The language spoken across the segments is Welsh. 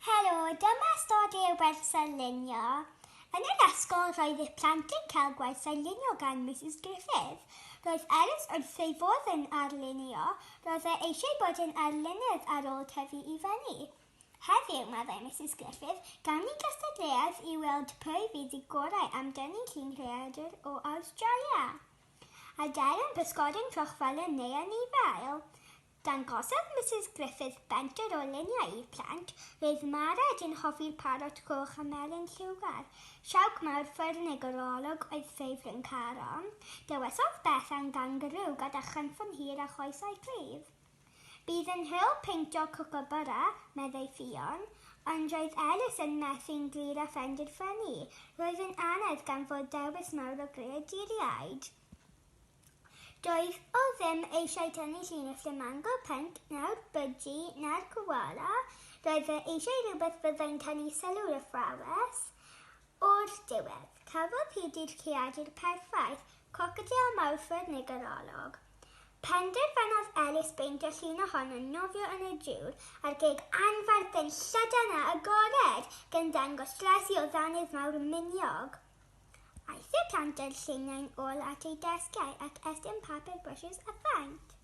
Helo, dyma ystod i'r wers ar lunio. Yn yr ysgol roedd eich plant yn cael gwaith ar lunio gan Mrs Griffith. Roedd Elis wrth ei fodd yn arlunio, roedd e eisiau bod yn arlunydd ar ôl tyfu i fyny. Heddiw, meddai Mrs Griffith, gawn ni gystadleuaeth i weld pwy fydd y gorau am dynnu llun rhaeadr o Awstralia. A dail yn pysgod yn fel yn neu anifail. Dangosodd Misus Griffith benter o luniau i'r plant, roedd Mared yn hoffi'r parot goch a melyn lliwgar. Siawc mawr ffyrnig yr olwg oedd ffefryn Caron. Dewisodd Bethan gangarŵ gyda chynffon hir a choesau cryf. Bydd yn hwyl peintio cwcwbwra, meddai Ffion. Ond roedd Elis yn methu'n glir a phenderfynu, roedd yn anedd gan fod dewis mawr o greaduriaid. Doedd o ddim eisiau tynnu llinell lle mae'n gweld Pent na'r Bydji na'r Koala, roedd e eisiau rhywbeth fyddai'n tynnu sylw'r athrawes. O'r diwedd, cafodd hi dydd creadur perffaith, Crocodil Mawrthwr neu Ganolog. Penderfynodd Elis beintio llun ohono'n nofio yn y dŵr ar geg anferth yn llydan a agored, gan ddangos dres i o ddanydd mawr miniog. Aeth y plant â'r lluniau'n ôl at eu desgiau ac estyn papur brwshws a phaent.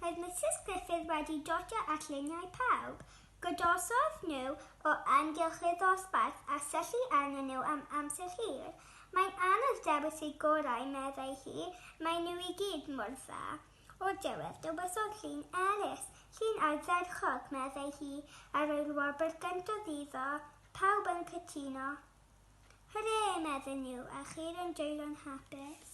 Roedd Misus Gruffydd wedi dotio at luniau pawb. Godosodd nhw o amgylch y ddosbarth a syllu arnyn nhw am amser hir. Mae'n anodd dewis y gorau, meddai hi, maen nhw i gyd mor dda. O'r diwedd, dywedodd llun Elis, llun ardderchog, meddai hi, a rhoi'r wobr gyntaf iddo. Pawb yn cytuno. Hwrê! medden nhw, a cheir yn dwylo'n hapus.